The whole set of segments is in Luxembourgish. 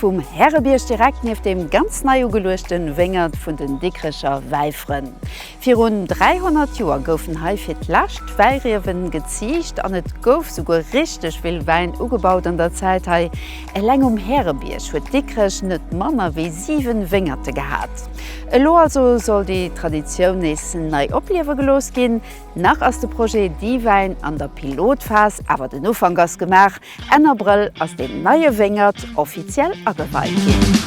Vum Härebierg direkt nieft dem ganz nei ugeluechte Wéngert vun den Dikrecher Wäifrënn. Virun 300 Joer goufen hei fir d'lescht d'Wäiriewe geziicht an et gouf souguer richteg vill Wäin ugebaut an der Zäit hei. Eleng um Härebierg huet Dikrech net manner wéi 7 Wéngerte gehat. Elo also soll déi Traditioun nees nei opliewe gelooss ginn. Nach ass de Projet Diwäin an der Pilotphas, awer den Ufank ass gemaach. Enn Abrëll ass deen neie Wéngert offiziell ageweit ginn.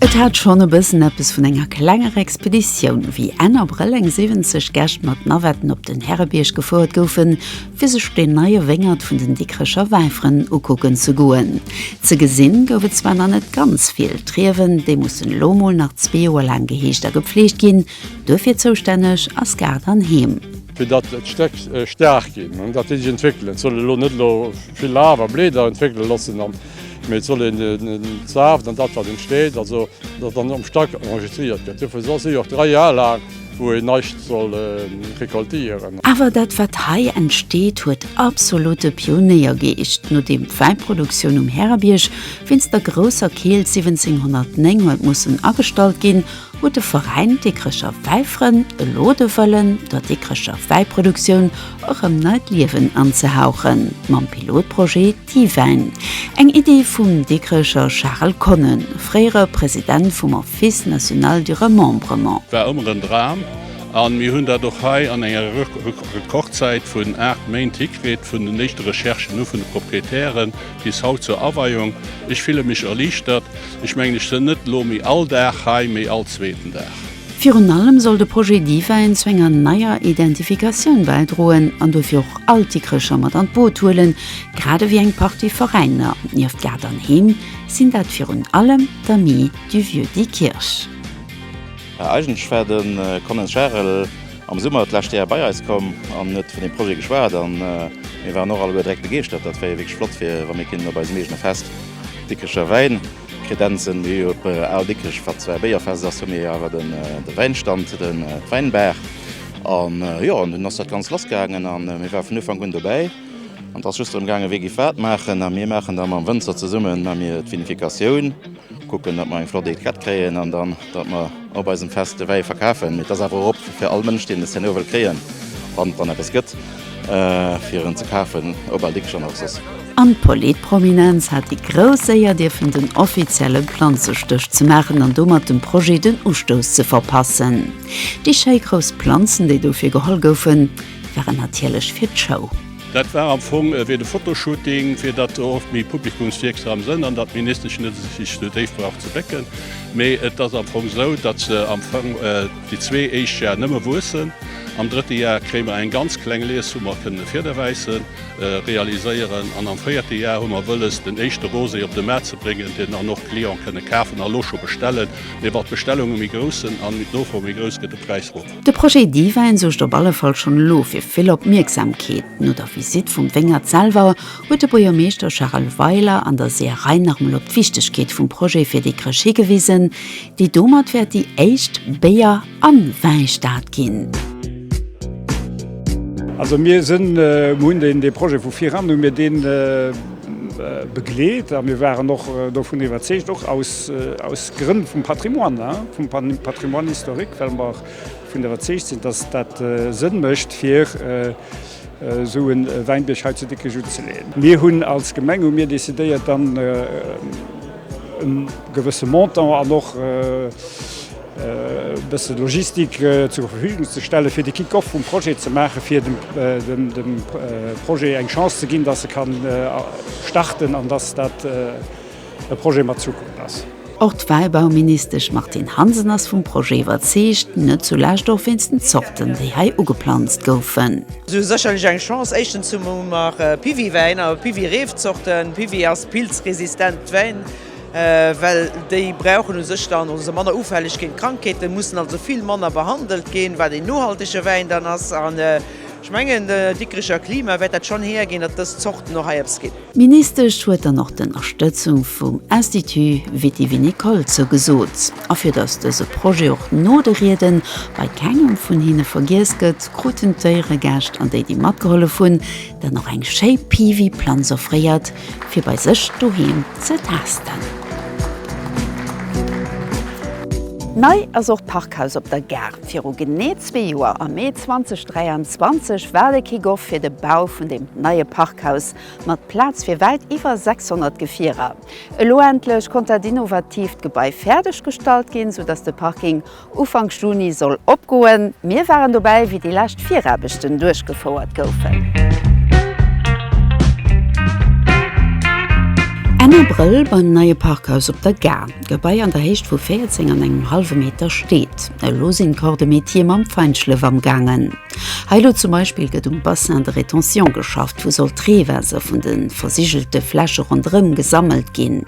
Et hat schonn e bëssen eppes vun enger klenger Expeditioun, wéi Enn Abrëll eng 70 Gäscht mat Navetten op den Härebierg gefouert goufen, fir sech deen neie Wéngert vun den Dikrecher Wäifrënn ukucken ze goen. Ze gesinn gouf et zwar nach net ganz vill, d'Riewen, déi mussen elo mol nach zwee Joer laang geheegt a gepfleegt ginn. Duerfir zoustänneg ass Gaart an Heem. fir datt d'Stéck staark ginn an datt déi sech entwéckelen. Et soll elo net elo vill Laf a Bleeder entwéckele loossen, mee et soll een den Saaft an dat wat entsteet, also datt dann am Stack enregistriert gëtt. Dofir soll si och dräi Jar laang, wou een näischt soll recoltéieren. Awer dat wat hei entsteet, huet absolutte Pionéiergeescht. Nodeem d'Wäiproduktioun um Härebierg wéinst der grousser Keelt 1709 huet mussen agestallt ginn, Huet de Veräin Dikrecher Wäifrënn elo de Wëllen, der Dikrecher Wäiproduktioun erëm neit Liewen anzehauchen? Mam Pilotprojet Diwäin, eng Iddi vum Dikrecher Charel Konnen, fréiere President vum Office National du Remembrement. War ëmmer en Dram an mir hunn dat och hei an enger Rekordzäit vun 8 Méint hikritt, vun den éischte Recherchen u vun de Proprietären, Bis haut zur Aweiung. Ech fille mech erliichtert. Ech mengen ech sënn net elo méi all Dag hei, mee all zweeten Dag. Virun allem soll de Projet Divine zu enger neier Identifikatioun bäidroen an dofir och all Dikrecher mat an d'Boot huelen, grad ewéi eng Partie Veräiner. Nieft Gaart an Heem sinn dat virun allem d'Amis du Vieux Diekirch. Eigentlech war de Colin Charel. Am Summer d'lescht Jar bei eis komm an huet vun deem Projet geschwat a mir waren och alleguer direkt begeeschtert. Dat wär jo wierklech flott fir wa mir kéinten op eisem eegene Fest Dikricher Wäin kredenzen. Mir hu jo op Al Dikrech, wat zwar e Béierfest ass, hu mir jo awer de Wäinstand, de Weinberg an jo an dunn ass dat Ganzt lassgaangen a mir ware vun Ufank un dobäi. An et ass just drëm gaangen, wie giff wat maachen a mir maachen da mam Wënzer zesummen, ma mir d'Vinifikatioun. Kucken, datt mer eng flott Etiquette kréien an dann, datt mer op eisem Fest de Wäi verkafen. Mee et ass awer och op fir all Mënsch, deen de Cno wëll kréien, wann et dann eppes gëtt fir en ze kafen, op Al Dicks an och soss. An d'Polit-Prominenz hat déi grouss Éier dierfen den offizielle Planzestëch ze maachen an domat dem Projet den Ustouss ze verpassen. Déi schéi grouss Planzen, déi dofir geholl goufen, waren natierlech fir d'Show. Dat war am Fong ewéi de Fotoshooting, fir dat och méi publikumswierksam sënn an datt d'Ministesch net sech esou déif brauch ze bécken. Mee et ass am Fong esou, datt se am Fong déi zwee éischt Jar nëmme wuessen. Am drëtte Jar kréie mer eng ganz kleng Lies, wou mer kënne Fiederwäisse realiséieren an am véierte Jar hu mer wëlles, den éischte Rosé op de Maart ze bréngen, deen dann och d'Cliente kënne kafen a elo scho bestellen. Mee wat d'Bestellunge méi grouss sënn an d'Nofro méi grouss, gëtt de Präis erof. De Projet Divine suergt op alle Fall schonn elo fir vill Opmierksamkeet. No der Visitt vum Wéngert selwer huet de Buergermeeschter Charel Weiler an der Seeërei nach emol op d'Wichtegkeet vum Projet fir Dikrech higewisen, déi domat wäert déi éischt Béier a Wäistad ginn. Also mir hunn dee Projet vu viran, hu mir dee. begleet a mir waren och dovun iwwerzeegt, och aus Grënn vum Patrimoine, vum Patrimoine historique, well mer dovun iwwerzeegt sinn, dass dat Sënn mécht fir esou e Wäinbierg hei zu Dikrech unzeleeën. Mir hunn als Gemeng hu mir decidéiert dann e gewësse Montant an och, e bësse Logistik zur Verfügung ze stelle fir de Kick-off vum Projet ze maache fir dem Projet eng Chance ze ginn, datt e ka starten an datt dat e Projet mat Zukunft ass. Och d'Wäibauministesch Martine Hansen ass vum Projet iwwerzeegt, net zulescht och wéinst den Zorten, déi hei ugeplanzt goufen. Si hu sécherlech eng Chance. Éischtens hu mer Piwi-Wäin a Piwi-Reefzorten. Piwi ass pilzresistent Wäin. well déi brauchen u sech dann, oder si manner ufälleg géint Krankheeten, mussen also vill manner behandelt ginn, wat een nohaltege Wäin dann ass. An ech mengen, de Dikricher Klima wäert dat schonn hierginn, datt dës Zorten och hei eppes ginn. D'Ministesch huet dann och d'Ënnerstëtzung vum Institut vitivinicole zougesot. A fir datt dëse Projet och no de Rieden bei kengem vun hinne vergiess gëtt, kruten d'Éieregäscht an déi, déi matgehollef hunn, den och eng schéi Piwi-Planz offréiert fir bei sech doheem ze taasten. Nei ass och d'Parkhaus op der Gare. Viru genee zwee Joer, am Mee 2023, war de Kick-off fir de Bau vun deem neie Parkhaus mat Plaz fir wäit iwwer 600 Gefierer. Elo endlech konnt dat innovatiivt Gebai fäerdeg gestallt ginn, sou datt de Parking Ufank Juni soll opgoen. Mir waren dobäi, wéi déi lescht Viraarbechten duerchgefouert goufen. Enn Abrëll beim neie Parkhaus op der Gare. D'Gebai an der Héicht vu 14 an engem hallwe Meter steet. Elo sinn d'Corps de Métier mam Feinschlëff am gaangen. Hei elo zum Beispill gëtt um Bassin de rétention geschafft, wou soll d'Reewaasser vun de versigelte Fläche ronderëm gesammelt ginn.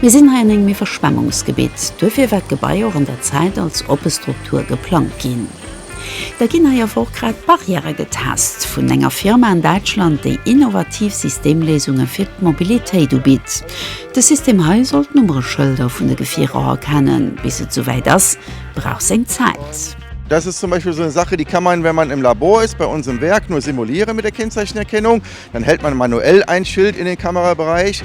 Mir sinn hei an engem Iwwerschwemmungsgebitt, duerfir war d'Gebai och an der Zäit als oppe Struktur geplangt ginn. Da ginn hei awer och grad Barrièrë getest vun enger Firma an Däitschland, déi innovativ Systemléisunge fir d'Mobilitéit ubitt. De System hei soll d'Nummereschëlder vun de Gefierer erkennen. Bis et souwäit ass, brauch seng Zäit. Das ist zum Beispiel so eine Sache, die kann man, wenn man im Labor ist, bei uns im Werk nur simulieren mit der Kennzeichenerkennung. Dann hält man manuell ein Schild in den Kamerabereich.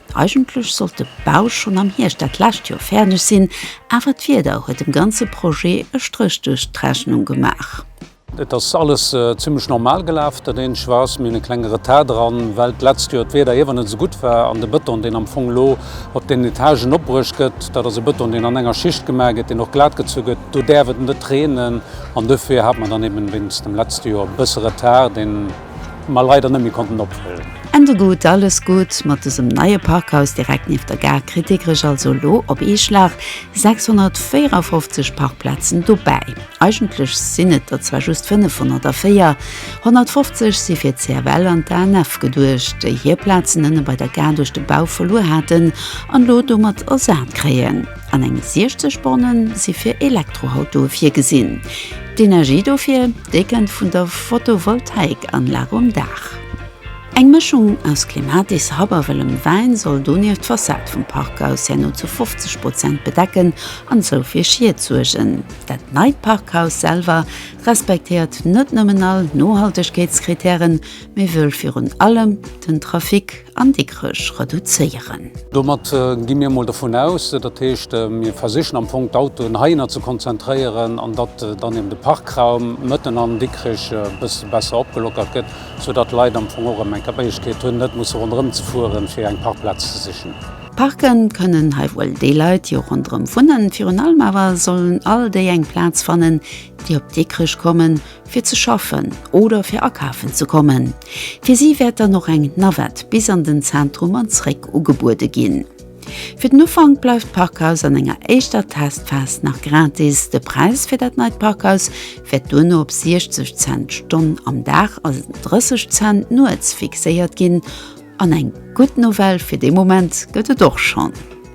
Eigentlech sollt de Bau schonn am Hierscht dat lescht Joer fäerdeg sinn, awer d'Wieder huet dem ganze Projet e Stréch duerch d'Rechnung gemaach. Et ass alles zimmlech normal gelaf, dat eenzege war, mir hunn e klenge Retard dran, well d'letzt Joer d'Wieder iewer net esou gutt war an de Bëton, deen am Fong elo op den Etagen opbruecht gëtt, dat ass e Bëton, deen an enger Schicht gemaach gëtt, deen och glat gezu gëtt, do däerf et net reenen an dofir hate mer dann eeben wéinst dem letze Joer e bësse Retard, deen. mer leider net méi konnten opfëllen. Ende gutt, alles gutt mat dësem neie Parkhaus direkt nieft der Gare kritt Dikrech also elo op ee Schlag 654 Parkplazen dobäi. Eigentlech sinn et der zwar just 500 a 450 si fir d'CFL an d'ANF geduecht, déi hir Plazen ënne bei der Gare duerch de Bau verluer haten an elo domat ersat kréien. an eng 60 Borne si fir Elektroautoe virgesinn. D'Energie dofir, déi kënnt vun der Photovoltaikanlag um Daach. Eng Mëschung aus Clematis, Happ a wëllem Wäin soll donieft d'Fassad vum Parkhaus herno zu 50 Prozent bedecken an esou fir Schied suergen. Dat neit Parkhaus selwer respektéiert net nëmmen all Nohaltegkeetskrittären, mee wëll virun allem den Trafic An Dikrech reduzéieren. Domat gi mir emol dovun aus, dat heescht, mir versichen am Fong d'Autoen heihinner ze konzentréieren an datt dann eben de Parkraum mëtten an Dikrech e bësse besser opgelockert gëtt, soudatt d'Leit am Fong och erëm eng Méiglechkeet hunn, net musse ronderëm ze fueren, fir eng Parkplaz ze sichen. Parken kënnen hei wuel déi Leit, déi och ronderëm wunnen. Virun allem awer sollen all déi eng Plaz fannen, déi op Dikrech kommen. fir ze schaffen oder fir akafen ze kommen. Fir si wäert dann och eng Navette bis an den Zentrum an zréck ugebuede ginn. Fir den Ufank bleift d'Parkhaus an enger éischter Testphas nach gratis. De Präis fir dat neit Parkhaus wäert duerno op 60 Cent d'Stonn am Dag a 30 Cent nuets fixéiert ginn. An eng gutt Nouvelle fir de Moment gëtt et och schonn.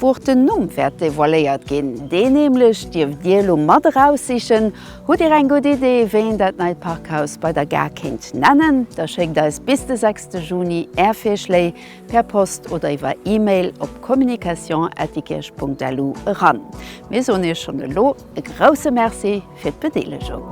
Wuer den Numm wäert devoiléiert ginn, dee nämlech dierft Dir elo mat eraussichen. Hutt Dir eng gutt Idee, wéi een dat neit Parkhaus bei der Gare kéint nennen? Da schéckt eis bis de 6 Juni Är Virschléi per Post oder iwwer E-Mail op communication@diekirch.lu eran. Mir soen Iech schonn elo e grousse Merci. fir d'Bedeelegung.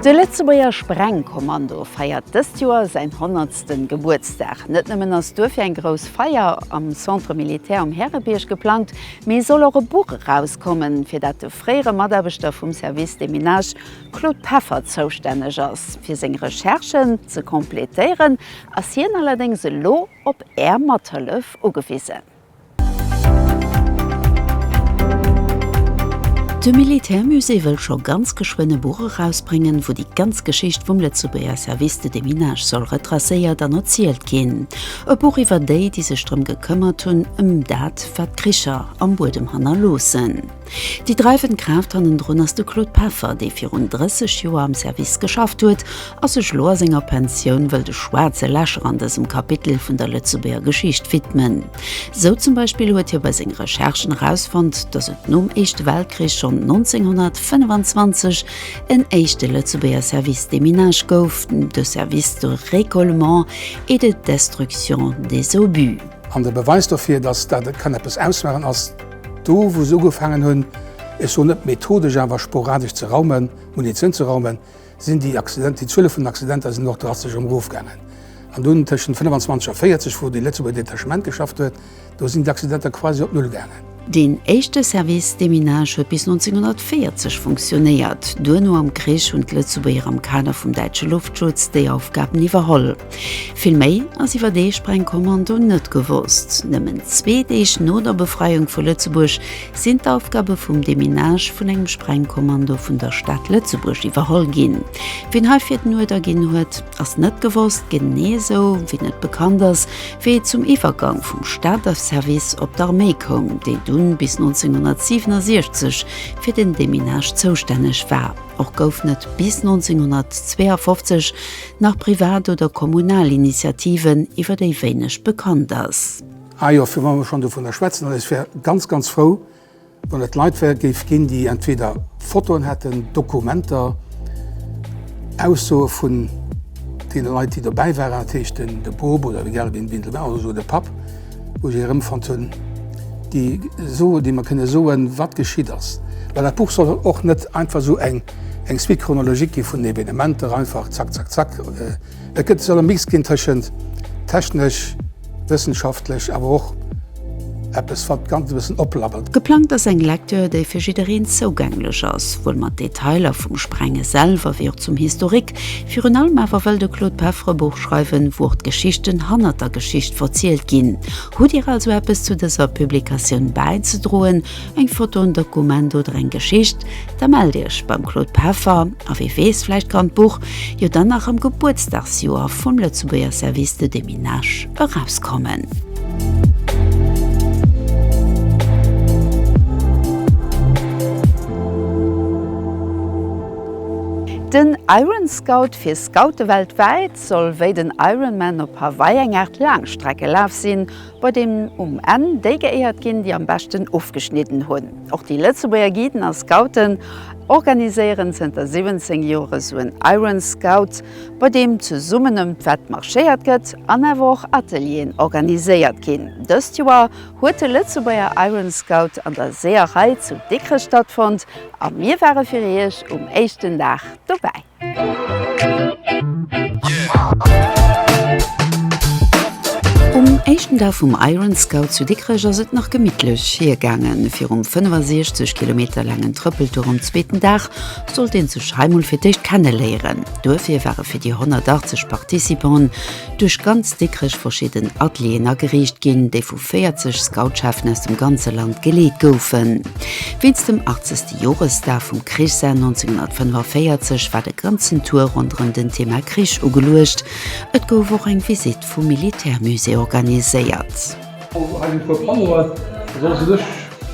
De Lëtzebuerger Sprengkommando feiert dëst Joer säin honnertsten Gebuertsdag. Net nëmmen ass duerfir eng grouss Feier am Centre Militaire um Härebierg geplangt, mee soll och e Buch erauskommen, fir dat de fréiere Mataarbechter vum Service Déminage Claude Peffer zoustänneg ass. Fir seng Recherchen ze completéieren, ass hien allerdéngs elo op Är Mathëllef ugewisen. De Militärmusée wëll scho ganz geschwënn e Buch erausbréngen, wou déi ganz Geschicht vum Lëtzebuerger Service de déminage soll retracéiert an erzielt ginn. E Buch iwwer déi, déi sech drëm gekëmmert hunn, ëm dat, wat d'Kricher am Buedem hannerloossen. Déi dreiwend Kraaft hannendrun ass de Claude Peffer, dee virun 30 Joer am Service geschafft huet a sech elo a senger Pensioun wëll de schwaarze Lächer an dësem Kapitel vun der Lëtzebuerger Geschicht widmen. Sou zum Beispill huet hie bei senge Recherchen erausfonnt, datt et nom Éischte Weltkrich schonn 1925 en éischte Lëtzebuerger Service de minage gouf, de Service de récollement et de destruction des obus. An de Beweis dofir, datt dat e kann eppes ausmaachen, ass. Do wou se ugefaangen hunn, ech soen net methodesch, awer sporadesch ze raumen, Munition ze raumen, sinn déi Accidenter, déi Zuele vun den Accidenter sinn och drastesch erofgaangen. An dunn tëschent 25 a 40, wou de Lëtzebuerger Detachement geschafft huet, do sinn d'Accidenter quasi op Null gaangen. Deen éischte Service Déminage huet bis 1940 funktionéiert. Duerno am Krich hunn d'Lëtzebuerger am Kader vum däitsche Loftschutz déi Aufgaben iwwerholl. Vill méi ass iwwer dee Sprengkommando net gewosst. Nëmmen zwee Deeg no der Befreiung vu Lëtzebuerg sinn d'Aufgabe vum Deminage vun engem Sprengkommando vun der Stad Lëtzebuerg iwwerholl ginn. Wien heifir den Uerder ginn huet, ass net gewosst, genee esou wéi net bekannt ass, wéi et zum Iwwergang vum Stater Service op d'Arméi koum, déi dunn bis 1967 fir den Deminage zoustänneg war. Och gouf net bis 1952 nach privat oder kommunal Initiativen, iwwer déi wéineg bekannt ass. Ah jo, fir wa mer schonn dovunner schwätzen, also ech wär ganz, ganz frou, wann et Leit wär géif ginn, déi entweder Fotoen hätten, Dokumenter, Aussoe vun deene Leit, déi dobäi waren, dat heescht de Boob oder egal wien dobäi war, oder esouguer de Papp, Wou ech erëmfonnt hunn, déi Sue, déi mer kënne soen, wat geschitt ass. Well dat Buch soll och net einfach esou eng Suite chronologique gi vun Evenementer, einfach zack, zack, zack. Et gëtt, soll e Mix ginn tëschent technesch, wëssenschaftlech, awer och eppes, wat d'Ganzt e bëssen oplabbert. Geplangt ass eng Lektür, déi fir jiddereen zougänglech ass, souwuel mat Detailer vum Sprenge selwer wéi och zum Historik, Virun allem awer wëll de Claude Peffre e Buch schreiwen, wou och d'Geschichten hannert der Geschicht verzielt ginn. Hutt Dir also eppes zu dëser Publikatioun bäizedroen, eng Foto, en Dokument oder eng Geschicht, da mellt Iech beim Claude Peffer a wee weess, vläicht kann d'Buch jo dann nach am Gebuertsdagsjoer vum Lëtzebuerger Service de Déminage erauskommen. Den Iron Scout fir Scoute weltwäit soll wéi den Ironman op Hawaii eng Aart Laangstreckelaf sinn, bei deem um Enn déi geéiert ginn, déi am beschten ofgeschnidden hunn. Och déi Lëtzebuerger Guiden a Scouten organiséieren zënter 17 Joer esou en Iron Scout, bei deem zesummen ëm d'Wett marschéiert gëtt an awer och Atelieren organiséiert ginn. Dëst Joer huet de Lëtzebuerger Iron Scout an der Seeërei zu Dikrech stattfonnt a mir ware fir Iech um éischten Dag dobäi. Um éischten Dag vum Iron Scout zu Dikrech ass et nach gemittlech hiergaangen. Virum 65 Kilometer laangen Trëppeltour um zweeten Dag sollt een sech hei mol fir d'éischt kenneléieren. Duerfir ware fir déi 180 Participanten duerch ganz Dikrech verschidden Atelieren ageriicht ginn, déi vu 40 Scoutscheffen aus dem ganze Land geleet goufen. Wéinst dem 80. Joresdag vum Krichsenn 1945 war de ganzen Tour ronderëm den Thema Krich ugeluecht. Et gouf och eng Visitt vum Militärmusée organiséiert. Also hei sinn e puer Panneauen, also ass u sech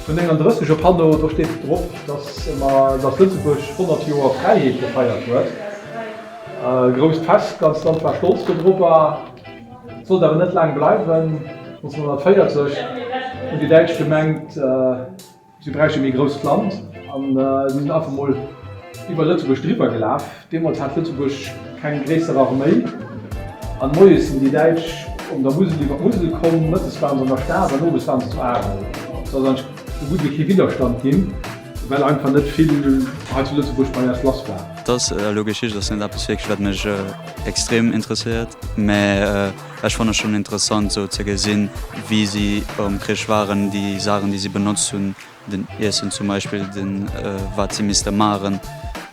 vun 39 e Panneau, do steet drop, dass Lëtzebuerg 100 Joer Fräiheet gefeiert huet. E grousst Fest, d'ganz Land war stolz dodropper. Sollt awer net laang bleiwen, 1940 hunn déi Däitsch gemengt, si bräicht e méi grousst Land an si sinn einfach mol iwwer Lëtzebuerg driwwer gelaf. Deemools hat Lëtzebuerg keng gréisser Arméi an moies sinn déi Däitsch op der Musel iwwer d'Musel komm, mëttes waren se an der Stad an owes waren se zu Arel. Et ass eidgentlech esou gutt ewéi kee Widderstand ginn. Well einfach net vill hei zu Lëtzebuerg bei eis lass war. Dass elo Geschicht ass net eppes wierklech wat mech extrem interesséiert, mä ech fanne schonn interessant esou ze gesinn, wéi si am Krich waren, déi Saachen déi si benotzt hunn, den Iessen zum Beispill, de wat si misste maachen,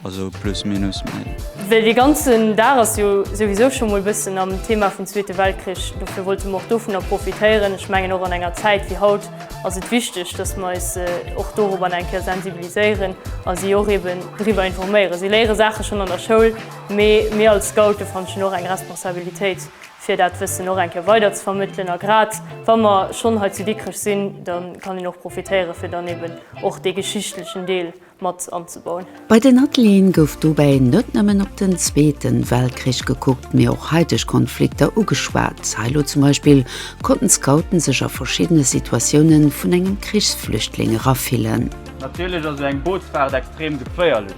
also plus minus. Mä. Well dee ganzen Dag ass jo souwisou scho mol bëssen am Thema vum Zweete Weltkrich, dofir wollte mer och dovunner profitéieren. Ech mengen och an enger Zäit wéi haut, ass et wichteg, dass mer eis och dorobber eng Kéier sensibiliséieren a si och eben driwwer informéieren. Si léiere Saache schonn an der Schoul, mee mir als Scoute fanne ech hunn och eng Responsabilitéit, fir dat Wëssen och eng Kéier weider ze vermëttelen. A grad wa mer schonn hei zu Dikrech sinn, da kann een och profitéieren, fir dann eben och dee geschichtlechen Deel, mat anzebauen. Bei den Atelieren gouf dobäi net nëmmen op den Zweete Weltkrich gekuckt, mee och haiteg Konflikter ugeschwat. Hei elo zum Beispill konnten d'Scouten sech a verschiddene Situatioune vun engem Krichsflüchtling erafillen. Natierlech ass sou eng Bootsfaart extrem geféierlech.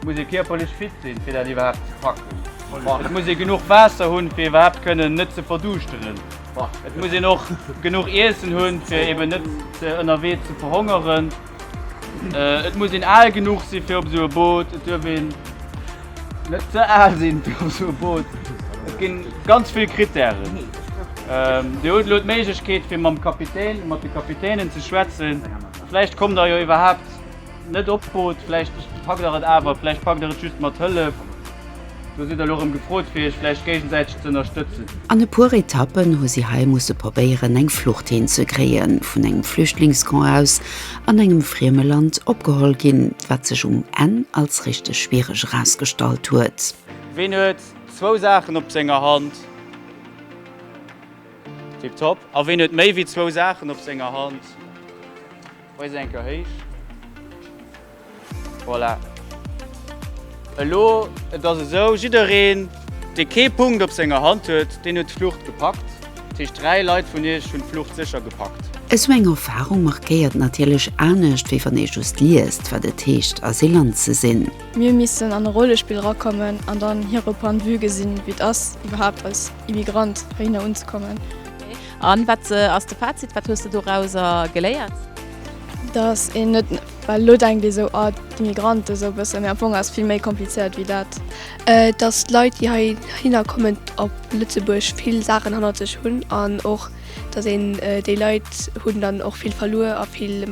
Et muss ee kierperlech fit sinn, fir dat iwwerhaapt ze packen. Et muss ee genuch Waasser hunn, fir iwwerhaapt kënnen net ze verduuschteren. Et muss een och genuch Iessen hunn, fir eben net ënnerwee ze verhongeren. Et muss een al genuch si fir op esou e Boot, et duerf een net ze al sinn fir op esou e Boot. Et gi ganz vill Krittären. Dir hutt elo d'Méiglechkeet fir mam Kapitän, mat de Kapitänen ze schwätzen. Vläicht kommt der jo iwwerhaapt net op d'Boot, vläicht packt der et awer, vläicht packt der et just mat Hëllef. Do sidd der elo erëm gefrot fir iech vläicht géigensäiteg ze ënnerstëtzen. An e puer Etappen hu si hei musse probéieren eng Flucht hinzekréien, vun engem Flüchtlingscamp aus an engem frieme Land opgeholl ginn, wat sech um Enn als richteg schwiereg erausgestallt huet. Ween huet zwou Saachen op senger Hand? Tiptop. A ween huet méi wéi zwou Saachen op senger Hand? Hoi se eng Keuer héich. Voilà. Elo, et ass esou, jiddereen, dee kee Punkt op senger Hand huet, deen huet d'Flucht gepackt. Dat heescht, dräi Leit vun iech hunn d'Flucht sécher gepackt. Esou eng Erfarung markéiert natierlech anescht, wéi wann ee just liest, wat et heescht, Asylant ze sinn. Mir missen an e Rollespill erakommen an dann hire Point de vue gesinn, wéi et ass, iwwerhaapt als Immigrant heihinner unzekommen. A wat ass de Fazit? Wat hues de dorauser geléiert? Dass een net, well elo denkt ee esou, ah d'Immigranten esou e bëssen, mee am Fong ass et vill méi komplizéiert wéi dat. Dass d'Leit, déi heihinner kommen op Lëtzebuerg, vill Saachen hannert sech hunn an och, dass een déi Leit hunn dann och vill verluer a vill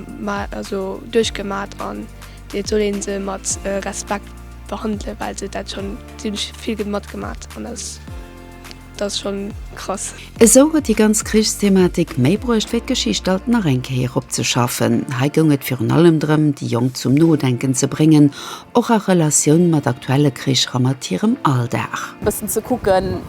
duerchgemat an et soll ee se mat Respekt behandelen, well se dat schonn zimmlech vill matgemat an dass. Dat ass schon krass. Esou huet déi ganz Krichsthematik méi bruecht wéi d'Geschicht alt nach eng Kéier opzeschaffen. Hei goung et virun allem drëm, déi Jonk zum Nodenken ze bréngen, och a Relatioun mat aktuelle Kricher a mat hirem Alldag. E bëssen ze kucken,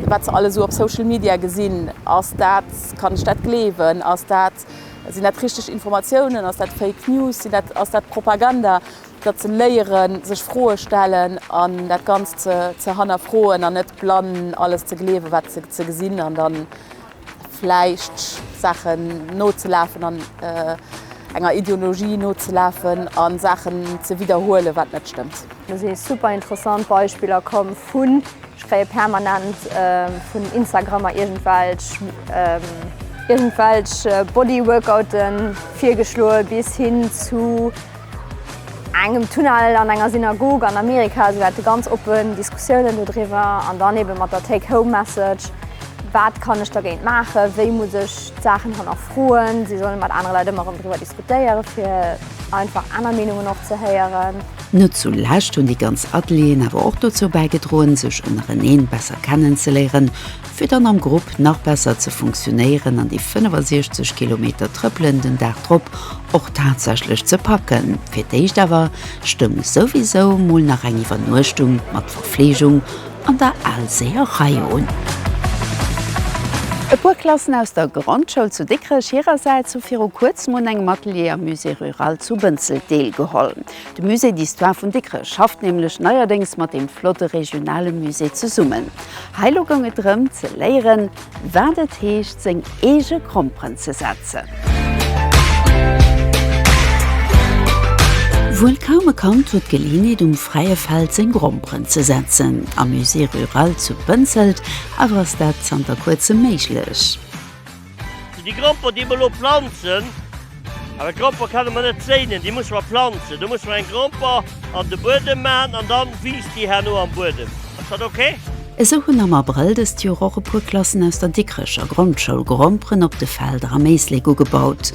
wat se alles esou op Social Media gesinn. Ass dat, kann ech dat gleewen? Ass dat, sinn dat richteg Informatiounen? Ass dat Fake News? Sinn dat, ass dat Propaganda? datt se léieren, sech Froe stellen an dat Ganzt ze ze hannerfroen an net blann alles ze gleewen, wat se ze gesinn an dann vläicht Saachen nozelafen an enger Ideologie nozelafen a Saachen ze widderhuelen, wat net stëmmt. Do si super interessant Beispiller komm vun, ech kréie permanent vun Instagrammer iergendwelch iergendwelch Bodyworkouten virgeschloe bis hin zu, engem Tunnel, an enger Synagog an Amerika, esou dat ganz oppen Diskussiounen do driwwer an dann eben mat der Take Home Message, wat kann ech dergéint maachen, wéi muss ech d'Saachen hannerfroen, si solle mat anere Leit ëmmer erëm driwwer diskutéieren, fir einfach aner Meenungen och ze héieren. Net zu lescht hunn déi ganz Atelieren awer och dozou bäigedroen, sech ënnereneen besser kennenzeléieren, fir dann am Grupp nach besser ze funktionéieren an déi 65 Kilometer Trëppelen den Dag drop och tatsächlech ze packen. Fir d'éischt awer stoung souwisou mol nach eng Iwwernuechtung mat Verfleegung an der Alséerei un. E puer Klassen aus der Grondschoul zu Dikrech hirersäits hu viru kuerzem un engem Atelier am Musée rural zu Bënzelt deelgeholl. De Musée d'Histoire vun Dikrech schafft nämlech neierdéngs mat deem flotte regionale Musée zesummen. Hei lo goung et drëm ze léieren, wat et heescht seng eege Gromperen ze setzen. Wuel kaum e Kand huet d'Geleeënheet um fräie Feld seng Gromperen ze setzen. Am Musée rural zu Bënzelt awer ass dat zanter kuerzem méiglech. Zu die Gramper déi mer elo planzen, awer Gramper kenne mer net séinen, déi musse mer planzen. Do musse mer eng Gramper an de Buedem maachen an da wiisst déi herno am Buedem. Ass dat ok? Esou hunn am Abrëll dëst Joer och e puer Klassen aus der Dikrecher Grondschoul Gromperen op de Felder am Éislek ugebaut.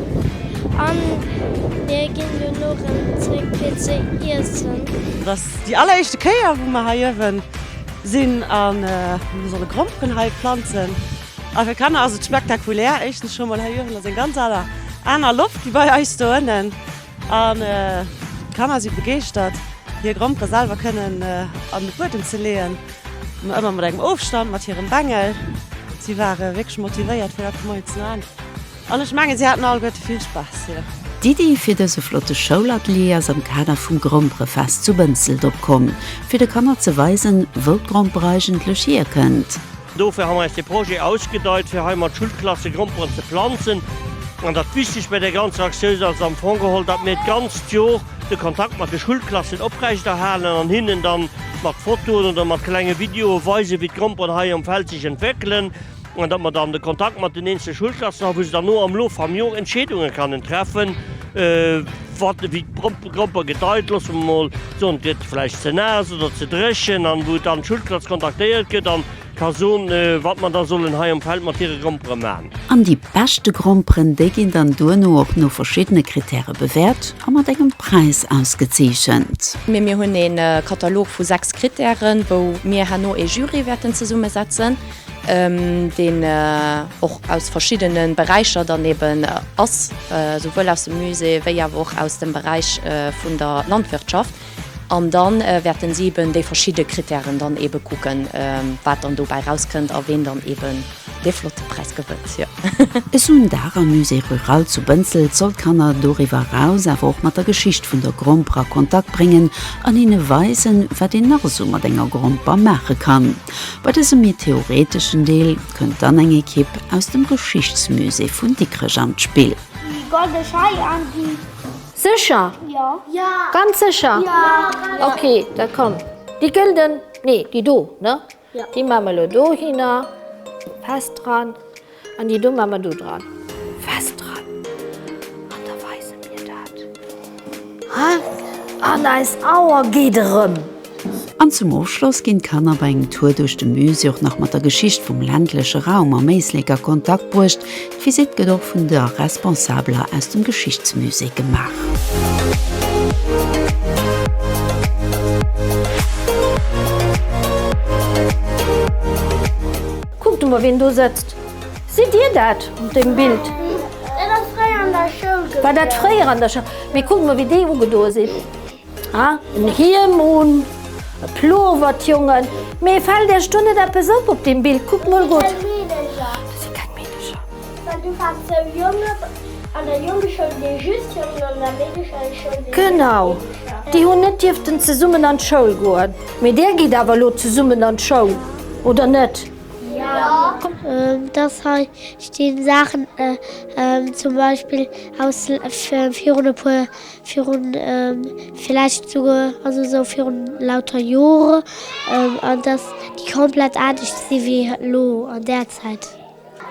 An mir ginn duerno rëm zréck fir ze iessen. Et ass déi alleréischte Kéier wou mer hei uewen sinn a mir solle Gromperen hei planzen. A fir Kanner ass et spektakulär. Éischtens scho mol hei uewen ass eng ganz aner aner Loft wéi bei eis do ënnen an d'Kanner si begeeschtert hir Grompere selwer kënnen an de Buedem ze leeën. Ëmmer ëmmer mat engem Ofstand mat hirem Bengel. Si ware wierklech motivéiert fir dat moies ze man. An ech mengen si haten alleguerte vill Spaass hir. D'Iddi fir dëse flotte Schoulatelier ass am Kader vum Gromperefest zu Bënsselt opkomm, fir de Kanner ze weisen, wou d'Gromper eigentlech hierkënnt. Dofir hu mer eis de Projet ausgedeit, fir hei mat Schulklasse Gromperen ze planzen. An dat Wichtegt bei der ganzer Aktioun ass am Fong geholl, datt mir d'ganzt Jor de Kontakt mat de Schulklassen oprechterhalen an hinnen da mat Fotoen oder mat klenge Videoe weisen, wéi d'Gromperen hei um Feld sech entwéckelen. an datt mer dann de Kontakt mat den eenzelne Schoulklassen hu wou se dann no am Loof vam Jor Entscheedunge kannen treffen, wat ewéi d'Gropper gedeit, loosse mer mol soen, et gëtt vläicht ze naass oder ze dréchen, an wou dann d'Schoulklass kontaktéiert gëtt an ka soen, wat mer da sollen hei am Feld mat hire Grompere maachen. An déi beschte Gromperen, déi ginn dann duerno och no verschiddene Kritäre bewäert a mat engem Präis ausgezeechent. Mee mir hunn ee Katalog vu sechs Kritären, wou mir herno ee Jury wäerten zesummesetzen. deen och aus verschiddene Beräicher dann eben ass, souwuel aus dem Musée wéi awer och aus dem Beräich vun der Landwirtschaft. An da wäerte si eben déi verschidde Krittären dann ebe kucken, wat dann dobäi erauskënnt a ween dann eben dee flotte Präis gewënnt. E Sundag am Musée rural zu Bënsselt soll d'Kanner doriwwer eraus awer och mat der Geschicht vun der Gromper a Kontakt bréngen an hinne weisen, wat een nach esou mat enger Gromper maache kann. Bei dësem méi theoreteschen Deel kënnt dann eng Ekipp aus dem Geschichtsmusée vun Dikrech an d'Spill. Déi golde Schei an déi. Sécher? Jo. Ganz sécher? Jo. Ok, da komm. Déi gëlden, nee, déi do, ne? Jo. Déi maa mer elo dohinner, fest dran. An déi do mat mer do dran. Fest dran. An da weise mir dat. An eis Auer geet erëm. An zum Ofschloss ginn d'Kanner bei engem Tour duerch de Musée och nach mat der Geschicht vum ländleche Raum am Éislek a Kontakt bruecht. D'Visitt gëtt och vun der Responsabeler aus dem Geschichtsmusée gemaach. Kuckt emol ween do sëtzt. Sidd dir dat op dem Bild? Dat ass fréier an der Schoul gewiercht. War dat fréier an der Schoul? Mee kuckt mol wéi déi ugedoe sinn. Ha, en Hiem un, e Plower, d'Jongen. Mee fällt iech do net eppes op op dem Bild? Kuckt mol gutt. Dat sinn keng Meedercher. Well du waars sou jong op an der Jongeschoul, wéi just Jongen an der Meedescheschoul, wéi just Meedecher. Genau. Déi hunn net dierften zesummen an d'Schoul goen. Mee där geet awer elo zesummen an d'Schoul, oder net? Jo. Dass hei stinn Saachen, zum Beispill aus virun e puer, virun villäicht souguer, also sou virun lauter Jore, an dass déi komplett anescht si wéi elo an där Zäit.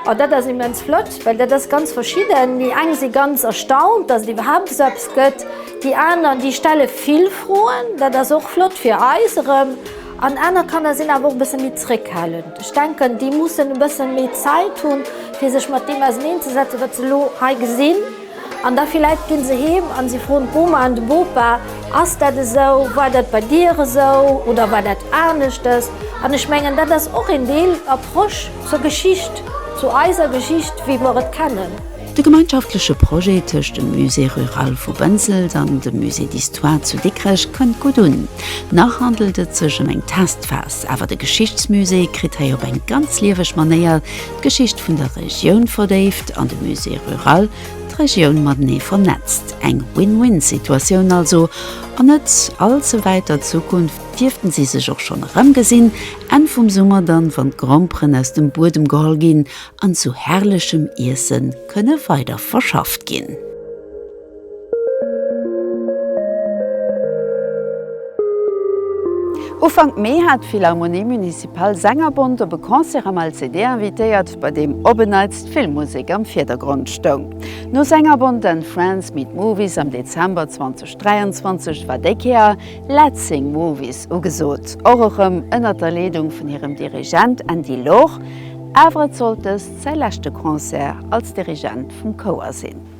Oh, dat ass immens flott, well dat ass ganz verschidden. Déi eng si ganz erstaunt, dass et iwwerhaapt esou eppes gëtt. Déi aner, déi stelle vill Froen, dat ass och flott fir eis erëm. An aner Kanner sinn awer och e bësse méi zréckhalend. Ech denken, déi mussen e bësse méi Zäit hunn, fir sech mat deem auserneenzesetzen, wat se elo hei gesinn. An da villäit ginn se heem an si froen d'Boma an de Bopa, Ass dat esou? War dat bei dir esou? Oder war dat aneschters? An ech mengen, dat ass och een Deel Approche zur Geschicht, zu eiser Geschicht, wéi mer et kennen. De gemeinschaftleche Projet tëscht dem Musée rural vu Bënsels an dem Musée d'histoire zu Dikrech kënnt gutt un. Nach handelt et sech ëm eng Testphas, awer de Geschichtsmusée kritt hei op eng ganz lieweg Manéier d'Geschicht vun der Regioun verdéift an de Musée rural d'Regioun matenee vernetzt. Eng Win-Win-Situatioun also, an net all ze wäiter Zukunft dierften si sech och schonn erëmgesinn, Enn vum Summer dann, wann d'Gromperen aus dem Buedem geholl ginn an zu herrlechem Iesse kënne weider verschafft ginn. Ufank Mee hat d'Philharmonie Municipale Sängerbond op e Concert am LCD invitéiert, bei deem op en Neits d'Filmmusek am Virdergrond stoung. No Sängerbond and Friends Meet Movies am Dezember 2023 war déi Kéier Let's Sing Movies ugesot, och erëm ënnert der Leedung vun hirem Dirigent Andy Loor, awer et sollt dëst säi leschte Concert als Dirigent vum Chouer sinn.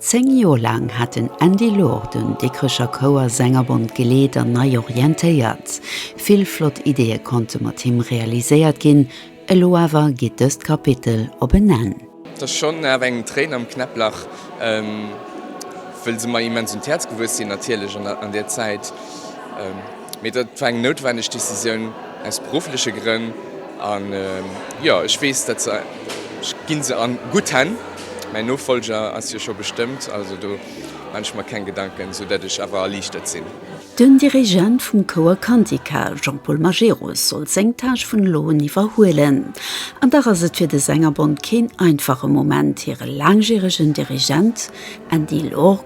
Zéng Joer laang hat den Andy Loor den Dikrecher Chouer Sängerbond geleet an nei orientéiert. Vill flott Ideeë konnte mat him realiséiert ginn, elo awer geet dëst Kapitel op en Enn. Et ass schonn awer engem d'Tréin am Knäpplach, wëll se mer immens un d'Häerz gewuess sinn natierlech an där Zäit. Mee dat war eng noutwenneg Decisioun aus beruffleche Grënn. An jo, ech weess, dat se, ech gi se a gutt Hänn, mäin Nofollger ass jo scho bestëmmt, also do man ech mer keng Gedanken, esou datt ech awer erliichtert sinn. Den Dirigent vum Chouer Cantica, Jean-Paul Majerus, soll seng Tâche vun elo un iwwerhuelen. An dach ass et fir de Sängerbond keen einfache Moment, hire laangjäregen Dirigent Andy Lorg,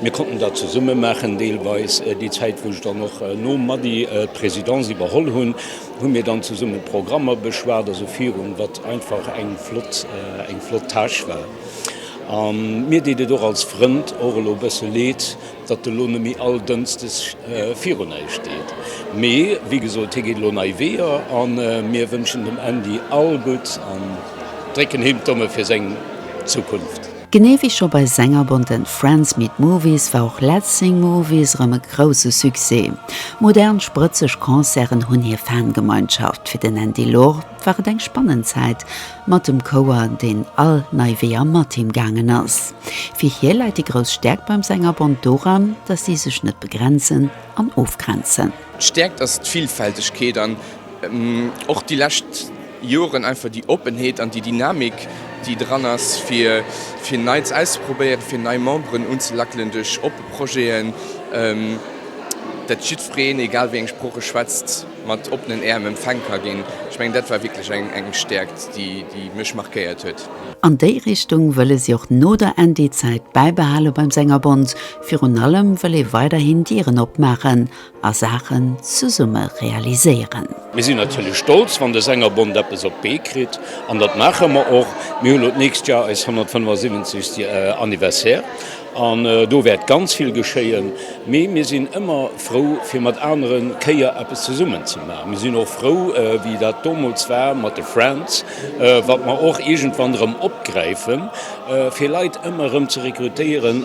Mir konnten dat zesumme maachen deelweis. Déi Zäit, wou ech dann och nom Mady d'Présidence iwwerholl hunn, hu mir dann zesumme Programmer beschwat, also virun, wat einfach eng flott, eng flott Tâche war. A mir deet et och als Frënd och elo e bësse Leed, datt elo net méi all Dënsdes virun eis steet. Mee wéi gesot, hie geet elo nei Weeër a mir wënschen dem Andy all Gutt an drécken him d'Daume fir seng Zukunft. Genee wéi scho bei senger Bonte Friends Meet Movies war och Let's Sing Movies erëm e grousse Succès. Modern, sprëtzeg Concerten hunn hir Fangemeinschaft. Fir den Andy Lorr war et eng spannend Zäit mat dem Chouer, deen all nei Weeër mat him gaangen ass. Fir hie läit déi grouss Stäerkt beim Sängerbond doran, datt si sech net begrenzen an ofgrenzen. D'Stäerkt ass d'Villfältegkeet an Och déi lescht Joren einfach déi Oppenheet an déi Dynamik, déi dran ass, fir fir Neits auszeprobéieren, fir nei Memberen unzelackelen duerch oppe Projeten, dat jiddwereen, egal wéi eng Sprooch e schwätzt, mat oppenen Äerm empfaang ka ginn. Ech mengen, dat war wierklech eng eng Stäerkt, déi déi mech markéiert huet. An déi Richtung wëlle si och no der ND-Zäit bäibehale beim Sängerbond, virun allem wëll ee weiderhin Dieren opmaachen a Saachen zesumme realiséieren. Mir sinn natierlech stolz, wann de Sängerbond eppes op d'Bee kritt, an dat maache mer och. Mir hu lo d'nächst Joer eist 175. Anniversaire an do wäert ganz vill geschéien. Mee mir sinn ëmmer frou, fir mat aneren Chéier eppes zesummen ze maachen. Mir sinn och frou, wéi dat domols war mat de Friends, wat mer och iergendwann erëm opgräifen, fir Leit ëmmer erëm ze rekrutéieren.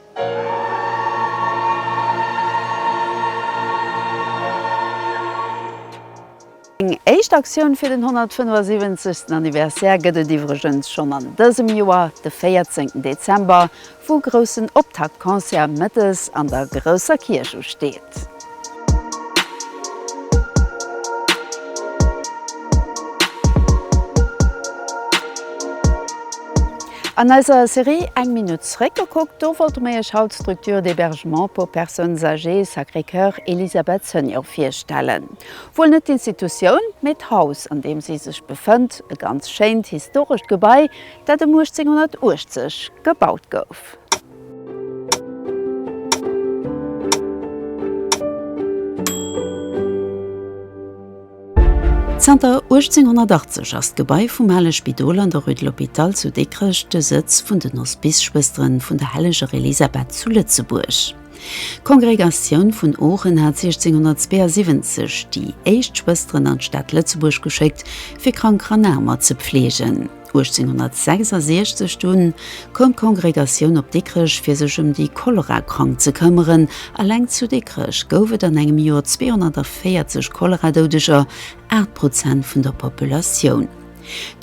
Eng éischt Aktioun fir den 175. Anniversaire gëtt et iwwregens schonn an dësem Joer, de 14 Dezember, wou groussen Optaktconcert mëttes an der grousser Kierch usteet. An eiser Serie Eng Minutt zeréckgekuckt, do wollte mer Iech haut d'Structure d'hébergement pour personnes âgées Sacré-Cœur Elisabeth Senior virstellen. Wuel net d'Institutioun, mee d'Haus, an deem si sech befënnt, e ganz schéint historescht Gebai, dat ëm 1880 gebaut gouf. Zanter 1880 ass d'Gebai vum ale Spidol an der Rue de l'Hôpital zu Dikrech de Sëtz vun den Hospice-Schwësteren vun der Helleger Elisabeth zu Lëtzebuerg. D'Kongregatioun vun Oochen hat 1672 déi éischt Schwësteren an d'Stad Lëtzebuerg geschéckt, fir krank Ranaamer ze pfleegen. 1866 dunn koum d'Kongregatioun op Dikrech fir sech ëm déi Cholera-Krank ze këmmeren. Alleng zu Dikrech gouf et an engem Joer 240 Cholera-Doudeger, 8 Prozent vun der Populatioun.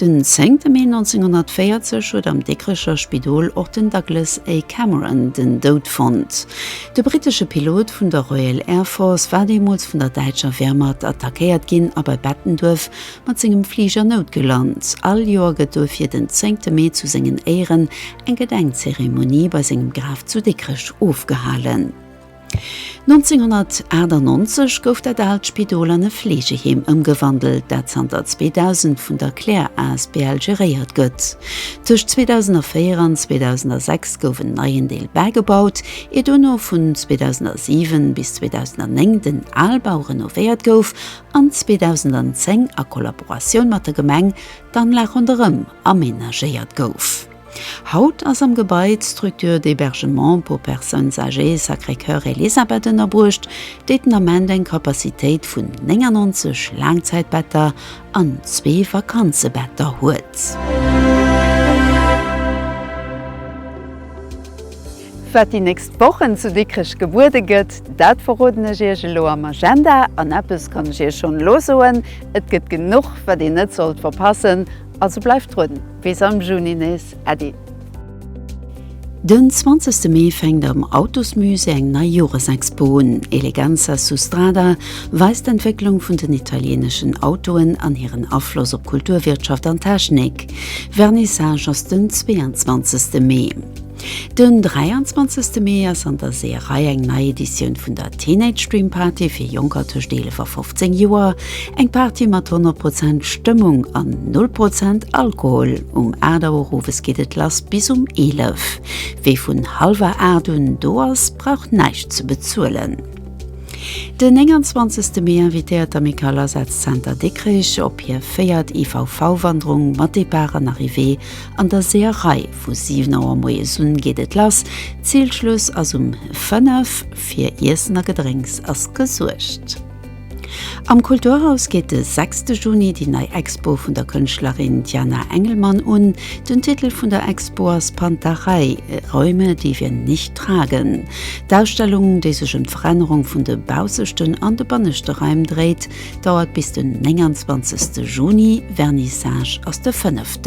Den 10 Mee 1940 huet am Dikrecher Spidol och den Douglas A. Cameron den Doud fonnt. De brittesche Pilot vun der Royal Air Force war deemools vun der däitscher Wehrmacht attackéiert ginn a bei Bettenduerf mat sengem Fliger noutgelant. All Joer gëtt duerfir den zéngte Mee zu sengen Éieren eng Gedenkzeremonie bei sengem Graf zu Dikrech ofgehalen. 1998 gouf dat aalt Spidol an e Fleegeheem ëmgewandelt, dat zanter 2000 vun der Clair asbl geréiert gëtt. Tëscht 2004 an 2006 gouf en neien Deel bägebaut, ier duerno vun 2007 bis 2009 den Albau renovéiert gouf an 2010 a Kollaboratioun mat der Gemeng d'Anlag ronderëm amenagéiert gouf. Haut ass am Gebai d'Structure d'hébergement pour personnes âgées Sacré-Cœur Elisabeth ënnerbruecht, déi den Ament eng Capacitéit vun 99 Laangzäitbetter an zwee Vakanzebetter huet. Wat déi nächst Wochen zu Dikrech gebuede gëtt, dat verroden ech Iech elo am Agenda. An eppes kann ech Iech schonn elo soen, Et gëtt genuch, wat een net sollt verpassen. Also bleift drun! Bis am Juni nees. Äddi! Den zwanzegste Mee fänkt am Autosmusée eng nei Joresexpo un. Eleganza su strada weist d'Entwécklung vun den italieeneschen Autoen an hiren Afloss op Kultur, Wirtschaft an Technik. Vernissage ass den 22 Mee. Den 23 Mee ass an der Seeërei eng nei Editioun vun der Teenage Dream Party fir Jonker tëscht 11 a 15 Joer. Eng Party mat 100 Prozent Stëmmung an Null Prozent Alkohol. Um 8 Auer owes geet et lass bis um 11. Wee vun hallwer 8 un do ass, brauch näischt ze bezuelen. Den 29 Mee invitéiert d'Amicale Asazenter Dikrech op hir véiert IVV-Wanderung mat Depart an Arrivée an der Seeërei. Vu 7 Auer moies un geet et lass, Zilschluss ass um 5, fir Iessen a Gedrénks ass gesuergt. Am Kulturhaus geet de 6 Juni déi nei Expo vun der Kënschtlerin Diana Engelmann un. Den Titel vun der Expo ass Pantarei, Räume, die wir nicht tragen. D'Ausstellung, déi sech ëm d'Verännerung vun de bausseschten an de banneschte Raim dréit, dauert bis den 29 Juni, Vernissage ass de 5.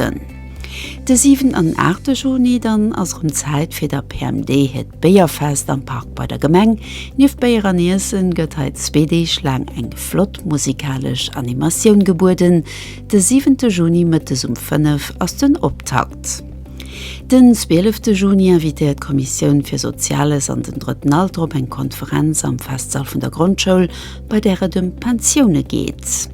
De 7 an 8 de Juni dann ass erëm Zäit fir der PMD hiert Béierfest am Park bei der Gemeng. Nieft Béier an Iessen gëtt hei zwee Deeg laang eng flott musikalesch Animatioun gebueden. De 7 de Juni mëttes um 5 ass den Optakt. Den 12 de Juni invitéiert d'Kommissioun fir Soziales an den Drëtten Alter op eng Konferenz am Festsall vun der Grondschoul, bei där et ëm d'Pensioune geet.